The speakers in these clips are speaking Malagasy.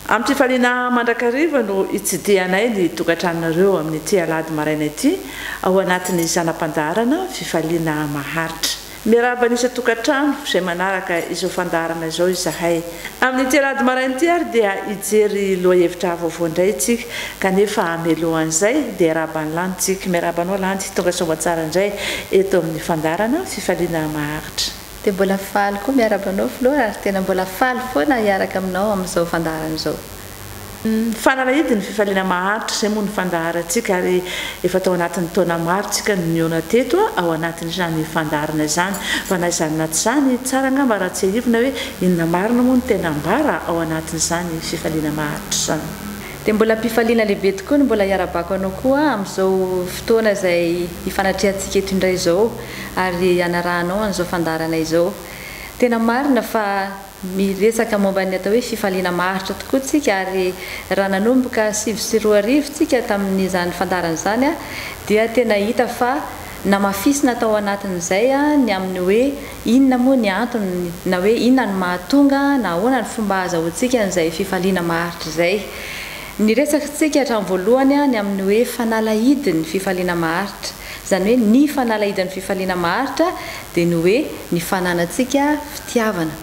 Amim-pifaliana mandrakariva no hitsidihanay ny tokantranonareo amin'ity alahady maraina ity ao anatin'ny zana-pandaharana Fifaliana maharitra. Miarahaba ny isan-tokantrano izay manaraka izao fandaharana izao izahay. Amin'ity alahady maraina ity ary dia hijery lohahevitra vaovao indray isika, kanefa mialohan'izay dia hiarahaba an'i Landy isika. Miarahaba anao Landy, tonga soamatsara indray eto amin'ny fandaharana Fifaliana maharitra. Dia mbola faly koa miarahaba anao Flora ary tena mbola faly foana hiaraka aminao amin'izao fandaharana izao. Mifanarahidy ny fifaliana maharitra izay moa ny fandaharantsika ary efa tao anatin'ny taona maro isika no nihaona teto ao anatin'izany fandaharana izany. Fa na izany na tsy izany, tsara angamba raha tsiahivina hoe inona marina moa no tena ambara ao anatin'izany fifaliana maharitra izany. Dia mbola am-pifaliana lehibe tokoa ny mbola hiara-bako anao koa amin'izao fotoana izay hifanatrehantsika eto indray izao ary hanarahanao an'izao fandaharana izao. Tena marina fa Miresaka momba ny atao hoe fifaliana maharitra tokoa isika ary raha nanomboka sivy sy roa arivo isika tamin'izany fandaharana izany dia tena hita fa namafisina tao anatin'izay ny amin'ny hoe inona moa ny antony na hoe inona no mahatonga na ahoana ny fomba hahazahoantsika an'izay fifaliana maharitra izay. Niresaka isika hatramin'ny voalohany ny amin'ny hoe fanalahidin'ny fifaliana maharitra. Izany hoe ny fanalahidan'ny fifaliana maharitra dia ny hoe ny fananantsika fitiavana.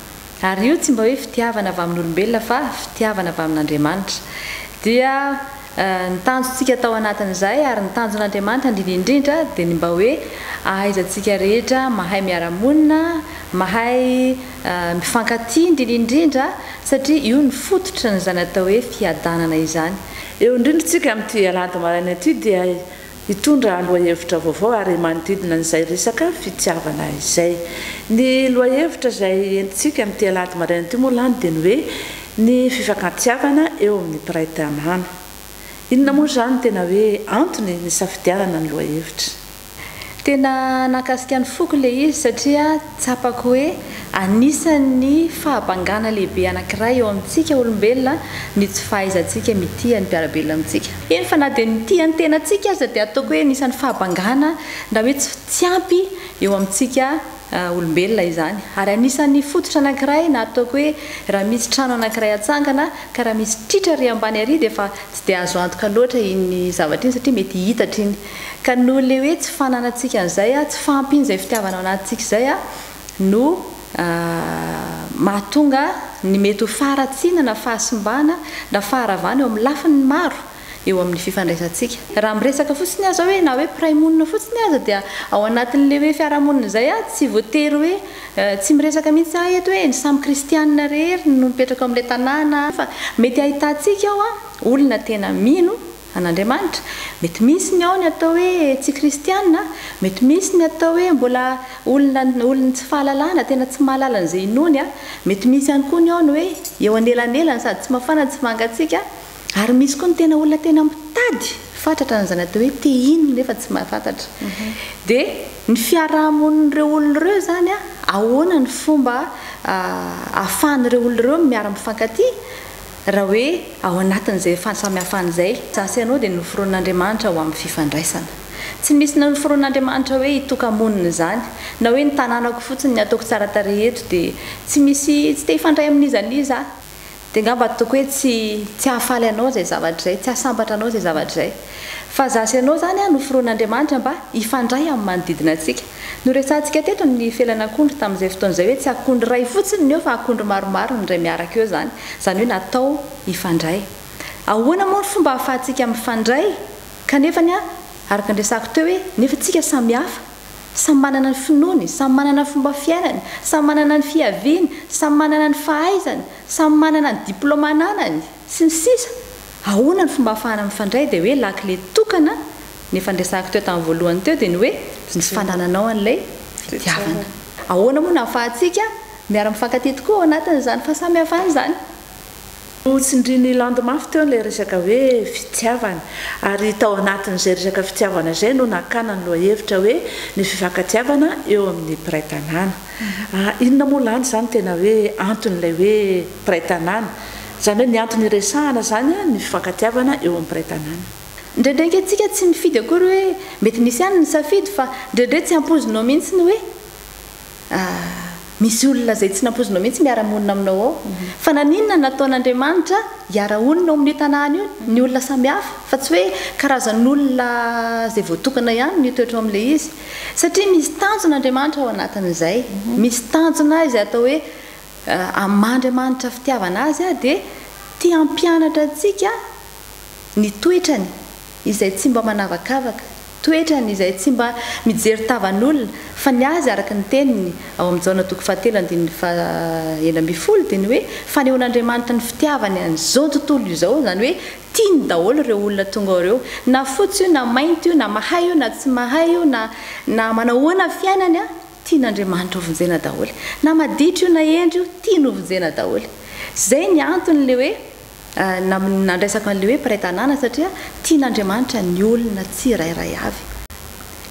Ary io tsy mba hoe fitiavana avy amin'olombelona fa fitiavana avy amin'Andriamanitra. Dia ny tanjontsika tao anatin'izay ary ny tanjon'Andriamanitra indrindra indrindra dia ny mba hoe ahaizantsika rehetra mahay miara-monina, mahay mifankatia indrindra indrindra satria io ny fototry n'izany atao hoe fiadanana izany. Eo indrindra isika amin'ity alahady maraina ity dia Hitondra lohahevitra vaovao ary manodidina an'izay resaka fitiavana izay. Ny lohahevitra izay entintsika amin'ity alahady maraina ity moa lany dia ny hoe ny fifankatiavana eo amin'ny mpiray tanàna. Inona moa izany no tena hoe antony nisafidianana ny lohahevitra? Tena nahakasika ny foko ilay izy satria Tsapako hoe anisan'ny fahabangana lehibe anankiray eo amintsika olombelona ny tsy fahaizantsika mitia ny mpiara-belona amintsika. Eny fa na dia ny mitia ny tenantsika aza dia ataoko hoe anisan'ny fahabangana na hoe tsy tsy ampy eo amintsika olombelona izany. Ary anisan'ny fototra anankiray na ataoko hoe raha misy trano anankiray atsangana ka raha misy tritra ary ambany ary dia efa tsy dia azo antoka loatra iny zavatra iny satria mety hiitatra iny. Ka noho le hoe tsy fananantsika an'izay, tsy fahampian'izay fitiavana ao anatintsika izay no mahatonga ny mety ho faharatsiana na fahasimbana na faharavana eo amin'ny lafiny maro eo amin'ny fifandraisantsika. Raha miresaka fotsiny aza hoe na hoe mpiray monina fotsiny aza dia ao anatin'le hoe fiarahamonina izay tsy voatery hoe tsy miresaka mihitsy aho eto hoe ny samy kristianina rehery no mipetraka ao amin'ilay tanàna fa mety ahitantsika ao olona tena mino an'Andriamanitra. Mety misy ny ao ny atao hoe tsy kristiana, mety misy ny atao hoe mbola olona olon'ny tsy fahalalana, tena tsy mahalala an'izay inoany, mety misy ihany koa ny ao ny hoe eo anelanelany sady tsy mafana tsy mangatsiaka, ary misy koa ny tena olona tena mitady fatratra an'izany atao hoe te hino nefa tsy mahafantatra. Dia ny fiaraha-monin'ireo olona ireo izany, ahoana ny fomba ahafahan'ireo olona ireo miara-mifankatia? Raha hoe ao anatin'izay fahasamihafana izay, izaho sy ianao dia noforonin'Andriamanitra ho amin'ny fifandraisana. Tsy misy nanoforonin'Andriamanitra hoe hitoka-monina izany, na hoe ny tananako fotsiny, ny ataoko tsara tarehy eto dia tsy misy, tsy te hifandray amin'iza n'iza aho. Dia angamba ataoko hoe tsy, tsy hahafaly anao izay zavatra izay, tsy hahasambatra anao izay zavatra izay. Fa izaho sy ianao izany an, noforonin'Andriamanitra mba hifandray amin'ny manodidina antsika. Noresahantsika teto ny felan'akondro tamin'izay fotoana izay hoe tsy akondro iray fotsiny ny eo fa akondro maromaro ny indray miaraka eo izany, izany hoe natao hifandray. Ahoana moa ny fomba ahafahantsika mifandray kanefa ny araka ny resahako teo hoe nefa tsika samy hafa, samy manana ny finoany, samy manana ny fomba fiainany, samy manana ny fiaviany, samy manana ny fahaizany, samy manana ny diplaoma ananany? Sy ny sisa Ahoana ny fomba afahana mifandray dia hoe lakile tokana Ny efa niresahako teo tamin'ny voalohany teo dia ny hoe ny tsy fanananao an'ilay fitiavana Ahoana moa no ahafahantsika miara mifankatia tokoa ao anatin'izany fahasamihafana izany? Notsindrin'i Land mafy teo ilay resaka hoe fitiavana ary tao anatin'izay resaka fitiavana izay no nakana ny lohahevitra hoe ny fifankatiavana eo amin'ny mpiray tanàna. Ah, inona moa lany izany tena hoe anton'ilay hoe mpiray tanàna? Izany hoe ny antony iresahana izany an, ny fifankatiavana eo amin'ny mpiray tanàna. Indraindray ange tsika tsy mifidy akory hoe mety misy ihany ny safidy fa indraindray tsy ampoizinao mihitsy ny hoe ah, misy olona izay tsy nampoizinao mihitsy miara-monina aminao ao. Fa naninona nataon'Andriamanitra hiara-honina ao amin'io tanàna io ny olona samihafa fa tsy hoe karazan'olona izay voatokana ihany no hitoetra ao amin'ilay izy? Satria misy tanjona Andriamanitra ao anatin'izay. Misy tanjona izay atao hoe amin'Andriamanitra fitiavana azy dia te hampianatra antsika ny toetrany izay tsy mba manavakavaka, toetrany izay tsy mba mijery tavan'olona fa ny azy araka ny teniny ao amin'ny Jaona toko fahatelo andininy faha enina ambin'ny folo dia ny hoe fanehoan'Andriamanitra ny fitiavany an'izao tontolo izao izany hoe Tiany daholo ireo olona tonga ao ireo, na fotsy io na mainty io, na mahay io na tsy mahay io, na na manahoana ny fiainany an, tian'Andriamanitra ho vonjena daholo. Na maditra io na hendry io, tiany ho vonjena daholo. Izay ny anton'ilay hoe nandraisako an'ilay hoe mpiray tanàna satria tian'Andriamanitra ny olona tsirairay avy.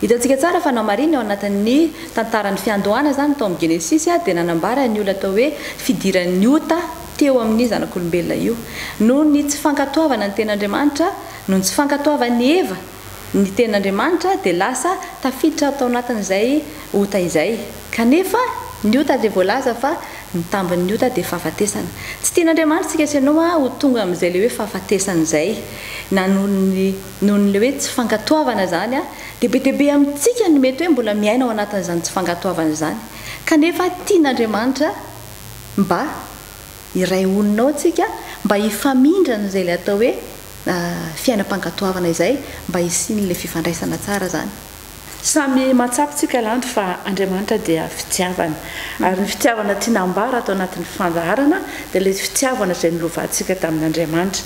Hitantsika tsara fa namariny ao anatin'ny tantaran'ny fiandohana izany tao amin'ny Genesisy dia nanambara ny olona atao hoe fidiran'ny ota teo amin'ny zanak'olombelona io. Noho ny tsy fankatoavana ny tenin'Andriamanitra, noho ny tsy fankatoavan'i Eva ny tenin'Andriamanitra dia lasa tafiditra tao anatin'izay ota izay. Kanefa ny ota dia voalaza fa ny tambin'ny ota dia fahafatesana. Tsy tian'Andriamanitra isika sy ianao ho tonga amin'izay ilay hoe fahafatesana izay na noho ny. Noho ilay hoe tsy fankatoavana izany, dia be dia be amintsika no mety hoe mbola miaina ao anatin'izany tsy fankatoavana izany. Kanefa tian'Andriamanitra mba hiray olona ao isika, mba hifamindrana izay ilay atao hoe fiainam-pankatoavana izay, mba hisian'ilay fifandraisana tsara izany. Samy mahatsapa isika lanto fa Andriamanitra dia fitiavana. Ary ny fitiavana tiana ambara ato anatin'ny fandaharana dia ilay fitiavana izay nolovantsika tamin'Andriamanitra.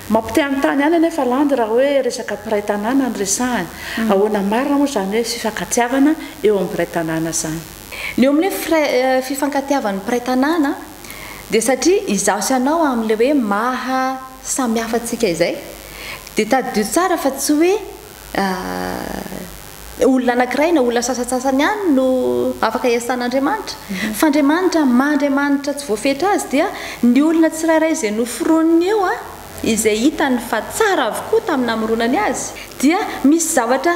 Mampitehantany ihany anefa landy raha hoe resaka mpiray tanàna no resahana. Ahoana marina moa izany hoe fifankatiavana eo amin'ny mpiray tanàna izany? Ny eo amin'ny hoe fifankatiavan'ny mpiray tanàna dia satria izaho sy ianao amin'ilay hoe maha samihafa antsika izay dia tadidio tsara fa tsy hoe Dia olona anankiray na olona sasantsasany ihany no afaka iasan'Andriamanitra. Fa Andriamanitra maha Andriamanitra tsy voafetra Azy dia ny olona tsirairay izay noforoniny eo, izay hitany fa tsara avokoa tamin'ny namoronany azy, dia misy zavatra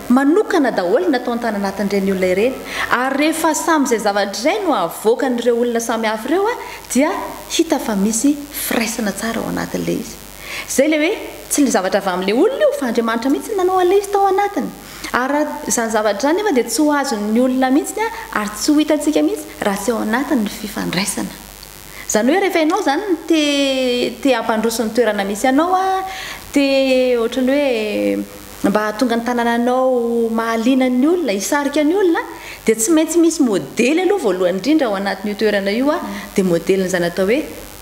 manokana daholo nataony tany anatin'ireny olona ireny. Ary rehefa samy izay zavatra izay no avoakan'ireo olona samihafa ireo dia hita fa misy firaisana tsara ao anatin'ilay izy. Izay ilay hoe, tsy ilay zavatra avy amin'ilay olona io, fa Andriamanitra mihitsy no nanao an'ilay izy tao anatiny. Ary raha izany zavatra izany nefa dia tsy ho azon'ny olona mihitsy ary tsy ho hitantsika mihitsy raha tsy ao anatiny ny fifandraisana. Izany hoe rehefa ianao izany te te hampandroso ny toerana misy anao a, te ohatra ny hoe mba hahatonga ny tanananao mahaliana ny olona, hisarika ny olona a, dia tsy maintsy misy modely aloha voalohany indrindra ao anatin'io toerana io a, dia modelin'izany atao hoe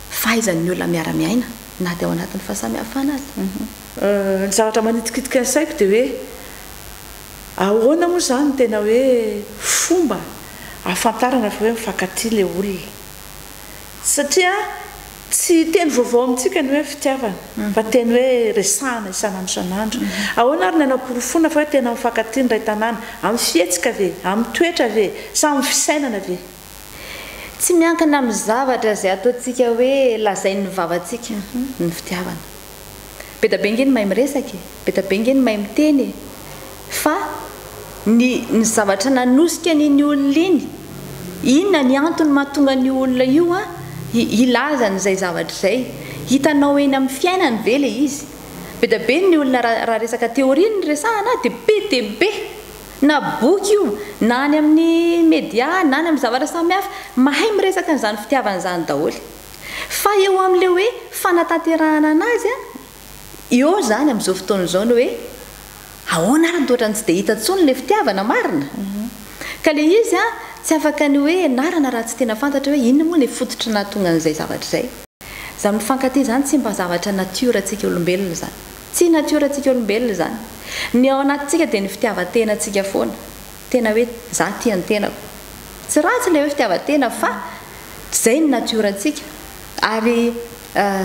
fahaizan'ny olona miara-miaina na dia ao anatin'ny fahasamihafana aza. Ny zavatra manitikitika ny saiko dia hoe ahoana moa izany no tena hoe fomba ahafantarana fa hoe mifankatia ilay olona? Satria tsy teny vaovao amintsika ny hoe fitiavana fa teny hoe resahana isan'andro isan'andro. Ahoana ary ny hanaporofoana fa hoe tena mifankatia ny iray tanàna? Amin'ny fihetsika ve? Amin'ny toetra ve? Sa amin'ny fisainana ve? Tsy miankina amin'ny zavatra izay ataontsika hoe lazain'ny vavantsika ny fitiavana. Be da be ange ny mahay miresaka e, be da be ange ny mahay miteny e. Fa ny ny zavatra nanosika an'iny olona iny, inona ny antony mahatonga an'io olona io a hi hilaza an'izay zavatra izay? Hitanao eny amin'ny fiainany ve ilay izy? Be da be ny olona raha raha resaka théorie no resahana dia be dia be. Na boky io, na any amin'ny media, na any amin'ny zavatra samihafa, mahay miresaka an'izany fitiavana izany daholo. Fa eo amin'ilay hoe fanatanterahana anazy, eo izany amin'izao fotoana izao ny hoe ahoana ary no toa ohatran'ny tsy dia hita intsony ilay fitiavana marina? Ka ilay izy tsy afaka ny hoe ianarana raha tsy tena fantatra hoe inona moa ilay fototry ny nahatonga an'izay zavatra izay. Zany mifankatia zany tsy mba zavatra natiora tsika olombelona zany. Tsy natiora tsika olombelona zany. Ny ao anatintsika dia ny fitiavan-tena tsika foana. Tena hoe za tia ny tenako. Tsy ratsy ilay hoe fitiavan-tena fa zay ny natiora tsika. Ary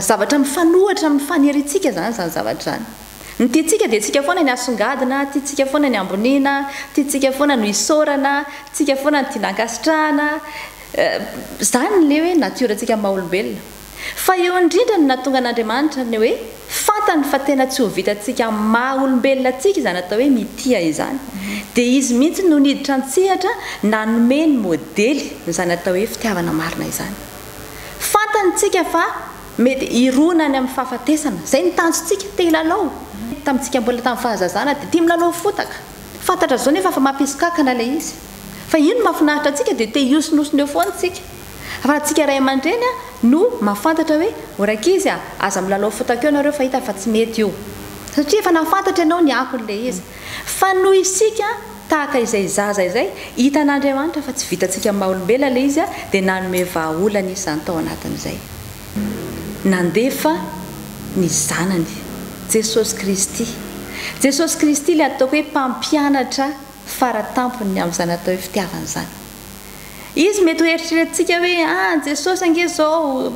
zavatra mifanohitra amin'ny faniriantsika zany zany zavatra zany. Ny tiantsika dia tsika foana ny hasongadina, tiantsika foana ny hamboniana, tiantsika foana no isaorana, tsika foana no tiana hankasitrahana, Izany ilay hoe natiora-tsika maha olombelona. Fa eo indrindra no nahatonga an'Andriamanitra ny hoe fantany fa tena tsy ho vitantsika maha olombelona antsika izany atao hoe mitia izany. Dia Izy mihitsy no niditra an-tsehatra nanome ny modely izany atao hoe fitiavana marina izany. Fantany tsika fa mety hirona any amin'ny fahafatesana. Izay no tanjontsika, te hilalao. Tamintsika mbola tamin'ny fahazazana dia tia milalao fotaka. Fantatra izao nefa fa mampisokakana ilay izy. Fa io no mahafinaritra antsika dia te hiosonosona eo foana isika. Raha antsika ray aman-dreny no mahafantatra hoe o rankizy a, aza milalao foot akeo nareo fa hita fa tsy mety io. Satria efa nahafantatra ianao ny akon'ilay izy. Fa noho isika tahaka izay zaza izay, hitan'Andriamanitra fa tsy vitantsika maha olombelona ilay izy dia nanome vahaolana izany tao anatin'izay. Nandefa ny Zanany. Jesosy Kristy. Jesosy Kristy ilay ataoko hoe mpampianatra. fara tampon'ny amin'izany atao hoe fitiavana izany. Izy mety ho eritreretintsika hoe, ah, an'i Jesosy ange izao,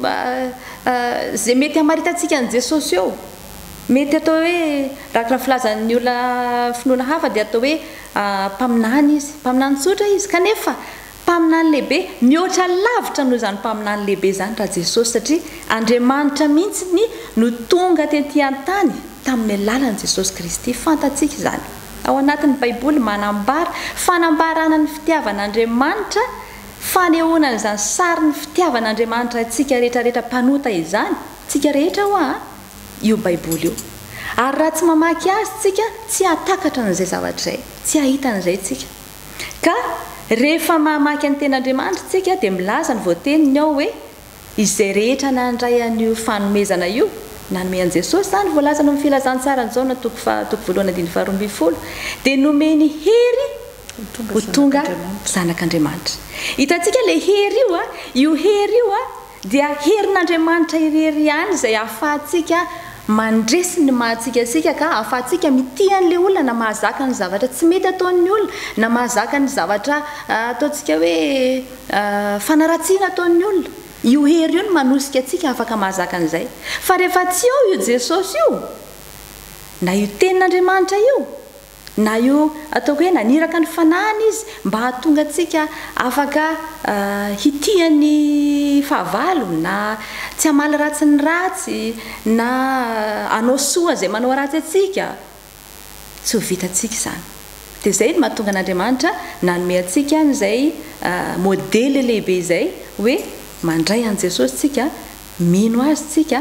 izay mety hamaritantsika an'i Jesosy eo. Mety atao hoe, araka ny filazan'ny olona finoana hafa dia atao hoe mpaminany Izy, mpaminany tsotra Izy, kanefa Mpaminany lehibe, mihoatra lavitra noho izany mpaminany lehibe izany raha Jesosy satria Andriamanitra mihitsy ny no tonga tety an-tany tamin'ny alalan'i Jesosy Kristy. Fantatsika izany. Ao anatin'ny Baiboly manambara fanambarana ny fitiavan'Andriamanitra fanehoana an'izany sarin'ny fitiavan'Andriamanitra antsika rehetrarehetra mpanota izany, tsika rehetra ho'a, io Baiboly io. Ary raha tsy mamaky azy tsika tsy hahatakatra an'izay zavatra izay, tsy hahita an'izay tsika. Ka, rehefa mamaky ny Tenin'Andriamanitra isika, dia milaza ny voateniny ao hoe, Izay rehetra nandray an'io fanomezana io, nanome an'i Jesosy izany, voalaza ao amin'ny Filazantsaran'i Jaona toko faha, toko voalohany andininy faharoa ambin'ny folo, dia nomeny hery ho tonga zanak'Andriamanitra. Hitantsika ilay hery io an, io hery io an, Dia herin'Andriamanitra irery ihany izay ahafahantsika mandresy ny maha-antsika antsika ka ahafahantsika mitia an'ilay olona na mahazaka ny zavatra tsy mety ataon'ny olona na mahazaka ny zavatra ataontsika hoe fanaratsiana ataon'ny olona. Io hery io no manosika antsika afaka mahazaka an'izay. Fa rehefa tsy eo io Jesosy io na io Tenin'Andriamanitra io Na io ataoko hoe naniraka ny fanahiny izy mba hahatonga antsika afaka hitia ny fahavalo, na tsy hamaly ratsy ny ratsy, na hanao soa izay manao ratsy antsika, tsy ho vitantsika izany. Dia izay no mahatonga an'Andriamanitra nanome antsika an'izay modely lehibe izay hoe mandray an'i Jesosy isika, Mino Azy isika,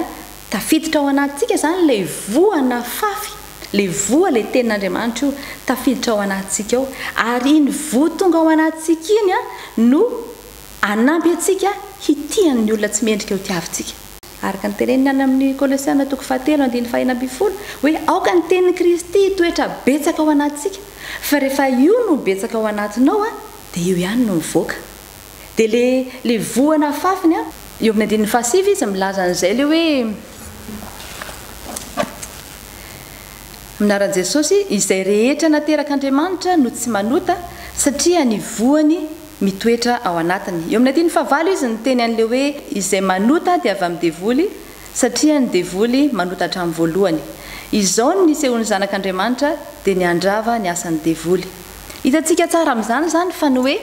tafiditra ao anatintsika izany ilay voa nafafy, ilay voa, ilay Tenin'Andriamanitra io, tafiditra ao anatintsika ao. Ary iny voa tonga ao anatintsika iny no hanampy antsika hitia ny olona tsy mendrika ho tiavintsika. Araka ny teneniny any amin'ny Kolosiana toko fahatelo andininy fahenina ambin'ny folo hoe aoka ny Tenin'i Kristy hitoetra betsaka ao anatintsika, fa rehefa io no betsaka ao anatinao dia io ihany no mivoaka. Dia le le voa nafafiny an! Eo amin'ny andininy fahasivy izy milaza an'izay le hoe Minaran'i Jesosy izay rehetra naterak'Andriamanitra no tsy manota satria ny voany mitoetra ao anatiny. Eo amin'ny andininy fahavalo izy niteny an'le hoe izay manota dia avy amin'ny devoly satria ny devoly manota hatramin'ny voalohany. Izao ny nisehoan'ny zanak'Andriamanitra dia ny handrava ny asan'ny devoly. Hitantsika tsara amin'izany izany fa ny hoe.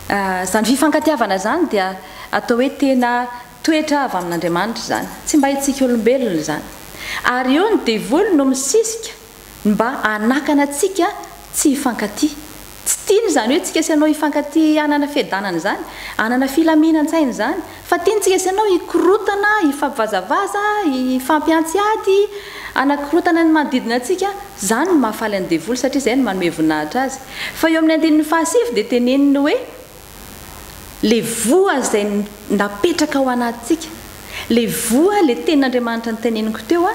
Izany fifankatiavana izany dia atao hoe tena toetra avy amin'Andriamanitra izany, tsy mba hitsika olombelona izany. Ary eo ny devoly no misisika ny mba hanakana antsika tsy hifankatia. Tsy tiany izany hoe tsika sy ianao hifankatia hanana fiadanana izany, hanana filaminan-tsaina izany, Fa tiantsika sy ianao hikorotana, hifampivazavaza, hifampihantsy ady, hanakorotana ny manodidina antsika, izany no mahafaly an'i devoly satria izay no manome voninahitra azy. Fa eo amin'ny andininy fahasivy dia teneniny hoe, Ilay voa izay napetraka ao anatintsika, ilay voa, ilay tenin'Andriamanitra noteneniko teo,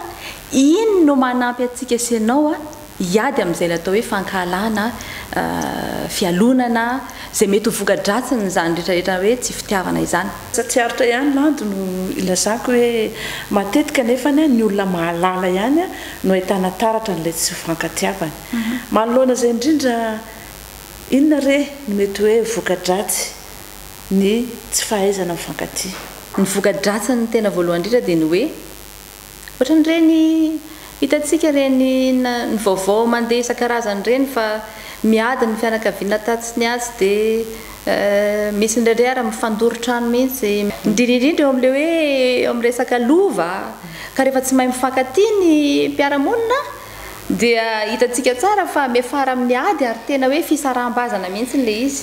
iny no manampy antsika sy ianao hiady amin'izay ilay atao hoe fankahalana, fialonana, izay mety ho voka-dratsin'izany rehetrarehetra hoe tsy fitiavana izany. Tsy aritra ihany landy no ilazako hoe matetika anefa ny olona mahalala ihany no ahitana taratra an'ilay tsy fankatiavana. Manoloana izay indrindra, inona re no mety hoe voka-dratsy ny tsy fahaizana mifankatia? Ny voka-dratsiny tena voalohany indrindra dia ny hoe Ohatran'ireny hitantsika ireny ny vaovao mandeha isan-karazany ireny fa miady ny fianakaviana tatsy ny atsy dia misy indraindray ary mifandoro trano mihitsy. Indrindra indrindra eo amin'ilay hoe eo amin'ny resaka lova ka rehefa tsy mahay mifankatia ny mpiara-monina dia hitantsika tsara fa miafara amin'ny ady ary tena hoe fisaraham-bazana mihitsy ilay izy.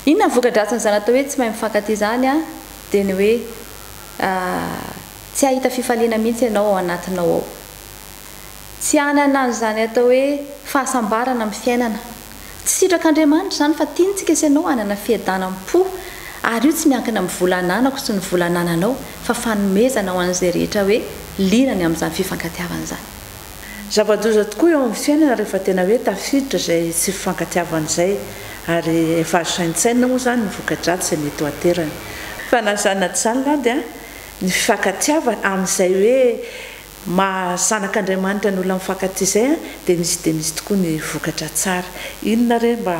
Inona ny voka-dratsin'izany atao hoe tsy mahay mifankatia izany dia ny hoe Tsy hahita fifaliana mihitsy ianao ao anatinao ao. Tsy hanana an'izany atao hoe fahasambarana amin'ny fiainana. Tsy sitrak'Andriamanitra izany fa tiantsika sy ianao hanana fiadanam-po ary io tsy miankina amin'ny vola ananako sy ny vola anananao fa fanomezana ho an'izay rehetra hoe liana ny amin'izany fifankatiavana izany. Zava-doza tokoa eo amin'ny fiainana rehefa tena hoe tafiditra izay tsy fifankatiavana izay ary efa azo saintsainina moa izany ny voka-dratsy izay mety ho aterany. Fa na zany na tsy zany lahy dia. ny fifankatiavana amin'izay hoe maha zanak'Andriamanitra ny olona mifankatia izay an, dia misy dia misy tokoa ny vokatra tsara. Inona re mba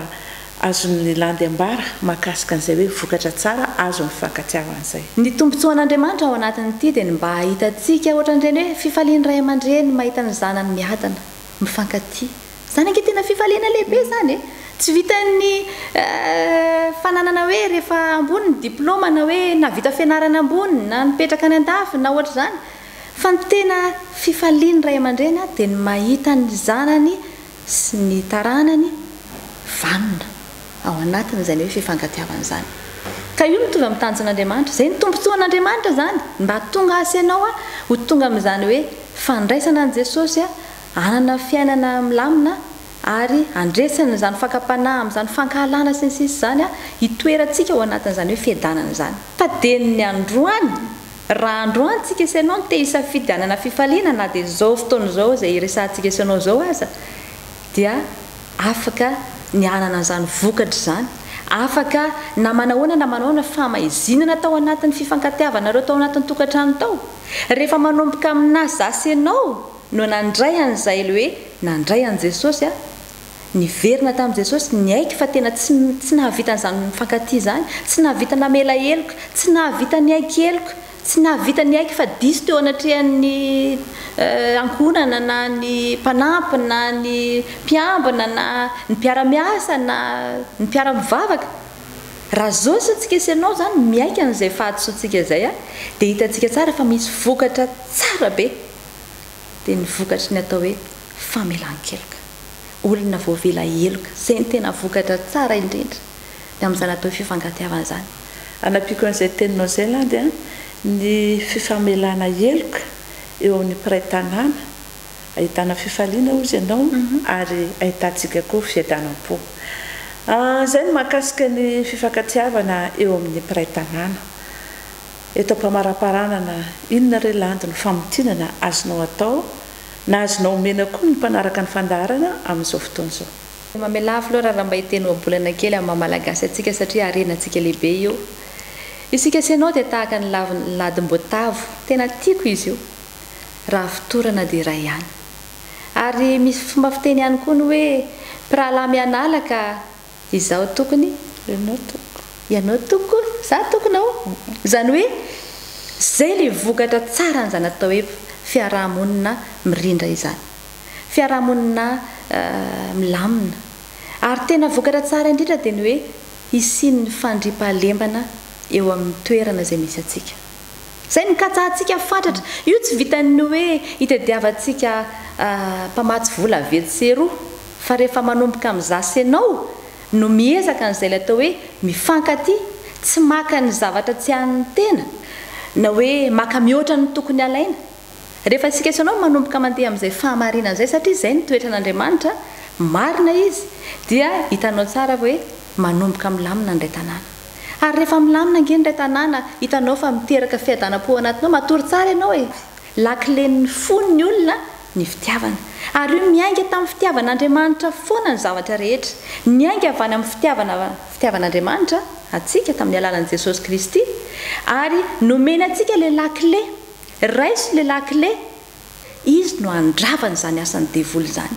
azon'ny landy ambara mahakasika an'izay hoe vokatra tsara azon'ny fifankatiavana izay? Ny tombontsoan'Andriamanitra ao anatin'ity dia ny mba hahitantsika ohatran'ireny hoe fifalian'ny ray aman-dreny mahita ny zanany miadana, mifankatia. Zany ange tena fifaliana lehibe zany e! Tsy vitan'ny fananana hoe rehefa ambony ny diploma na hoe nahavita fianarana ambony na nipetraka any andafy na ohatr'izany fa ny tena fifalian'ny ray aman-dreny dia ny mahita ny zanany sy ny taranany vanona ao anatin'izany hoe fifankatiavana izany ka io mitovy amin'ny tanjon'Andriamanitra. Izay ny tombontsoan'Andriamanitra izany mba hahatonga asy ianao ho tonga amin'izany hoe fandraisana an'i Jesosy hanana fiainana milamina ary handresany izany fakam-panahy amin'izany fankahalana sy ny sisa izany hitoerantsika ao anatin'izany hoe fiadanana izany. Taden'ny androany, raha androany tsika sy ianao no te hisafidy hanana fifaliana na dia izao fotoana izao izay iresahantsika sy ianao izao aza dia afaka ny hanana an'izany vokatra izany, afaka na manao ahoana na manao ahoana famaizinana tao anatin'ny fifankatiavanareo tao anatin'ny tokantrano tao, rehefa manomboka aminà za sy ianao, no nandray an'izay hoe nandray an'i Jesosy aho, niverina tamin'i Jesosy, niaiky fa tena tsy tsy nahavita an'izany mifankatia izany, tsy nahavita namela heloka, tsy nahavita niaiky heloka, tsy nahavita niaiky fa diso teo anatrehan'ny ankohonana na ny mpanampy na ny mpiambina na ny mpiara-miasa na ny mpiara-mivavaka. Raha zao isontsika sy ianao izany miaiky an'izay fahadisoantsika izay dia hitantsika tsara fa misy vokatra tsara be dia ny vokatry ny atao hoe famelan-keloka. Olona voavela heloka, izay ny tena vokatra tsara indrindra ny amin'izany atao hoe fifankatiavana izany. Hanampiako an'izay teninao izay Landy a, ny fifamelana heloka eo amin'ny mpiray tanàna, ahitana fifaliana hozy ianao ary ahitantsika koa fiadanam-po. Izay ny mahakasika ny fifankatiavana eo amin'ny mpiray tanàna. Eto am-pamaraparanana, inona re landy no famintinana azonao atao na azonao omena koa ny mpanaraka ny fandaharana amin'izao fotoana izao? Mamelà filoha Raramba hiteny ohabolana kely amin'ny maha Malagasy antsika satria harena antsika lehibe io. Isika sy ianao dia tahaka ny lavin' ny ladim-boatavo, tena tiako izy io. Raha fotorana dia iray ihany. Ary misy fomba fiteny ihany koa ny hoe, mpirahalahy mianala ka. Izaho tokony, ianao toko. Ianao toko, izaho tokona o! Izany hoe, izay ilay vokatra tsaran'izany atao hoe fiaraha-monina mirindra izany. Fiaraha-monina milamina. Ary tena vokatra tsara indrindra dia ny hoe hisian'ny fandriampahalemana eo amin'ny toerana izay misy antsika. Izay no katsahantsika fatratra. Io tsy vitan'ny hoe hitadiavantsika mpamatsy vola vetsy sy eroa, fa rehefa manomboka amin'izaho sy ianao no miezaka an'izay ilay atao hoe mifankatia, tsy maka ny zavatra tsy an'ny tena, na hoe maka mihoatra ny tokony halaina. Rehefa isika sy ianao no manomboka mandeha amin'izay fahamarinana izay, satria izay no toetran'Andriamanitra, marina Izy, dia hitanao tsara hoe manomboka milamina indray tanàna. Ary rehefa milamina ange ny iray tanàna hitanao fa miteraka fiadanam-po ao anatinao, matory tsara ianao e! Lakilen'ny fon'ny olona ny fitiavana. Ary io miainga tamin'ny fitiavan'Andriamanitra foana ny zavatra rehetra. Niainga avy any amin'ny fitiavana fitiavan'Andriamanitra antsika tamin'ny alalan'i Jesosy Kristy, ary nomeny antsika ilay lakile. Raiso ilay lakile Izy no handrava an'izany asan'ny devoly izany.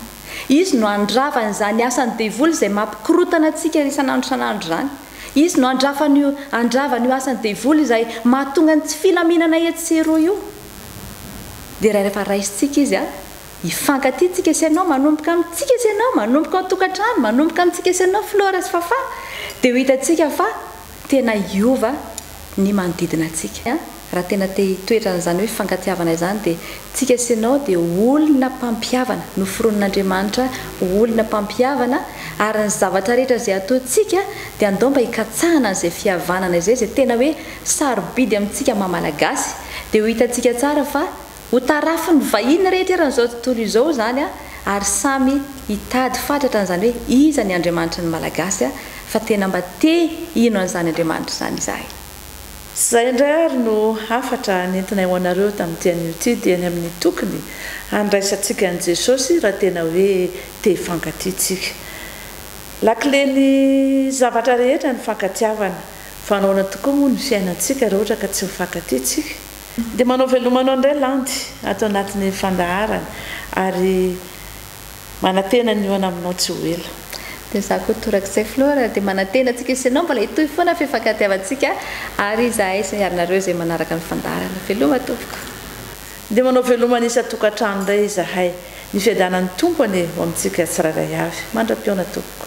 Izy no handrava an'izany asan'ny devoly izay mampikorotana antsika isan'andro isan'andro izany. Izy no handrava an'io, handrava an'io asan'ny devoly izay mahatonga ny tsy filaminana etsy sy eroa io. Dia rehefa raisintsika izy, hifankatia tsika sy ianao, manomboka amintsika sy ianao, manomboka ao an-tokantrano, manomboka amintsika sy ianao Flora sy Fafah, dia ho hitantsika fa tena hiova ny manodidina antsika. Raha tena te hitoetra an'izany hoe fifankatiavana izany dia tsika sy ianao dia ho olona mpampihavana, noforonin'Andriamanitra ho olona mpampihavana ary ny zavatra rehetra izay ataontsika dia andao mba hikatsahana an'izay fihavanana izay, izay tena hoe sarobidy amintsika maha Malagasy dia ho hitantsika tsara fa Ho tarafin'ny vahiny rehetra eran'izao tontolo izao izany ary samy hitady fatratra an'izany hoe iza ny Andriamanitry ny Malagasy fa tena mba te hino an'izany Andriamanitra izany izahay. Izay indray ary no hafatra nentinay ho anareo tamin'ity anio ity dia ny amin'ny tokony handraisantsika an'i Jesosy raha tena hoe te hifankatia isika. Lakilen'ny zavatra rehetra ny fankatiavana fa nahoana tokoa moa ny fiainantsika raha ohatra ka tsy mifankatia isika? Dia manao veloma anao indray landy ato anatin'ny fandaharana ary manantena ny hihaona aminao tsy ho ela. Dia za koa torak'izay Flora dia manantena antsika sy ianao mbola hitohy foana ny fifankatiavantsika ary izahay sy ianareo izay manaraka ny fandaharana. Veloma tompoko. Dia manao veloma ny isan-tokantrano indray izahay. Ny fiadanan'ny Tompo anie ho amintsika tsirairay avy. Mandra-pihaona tompoko.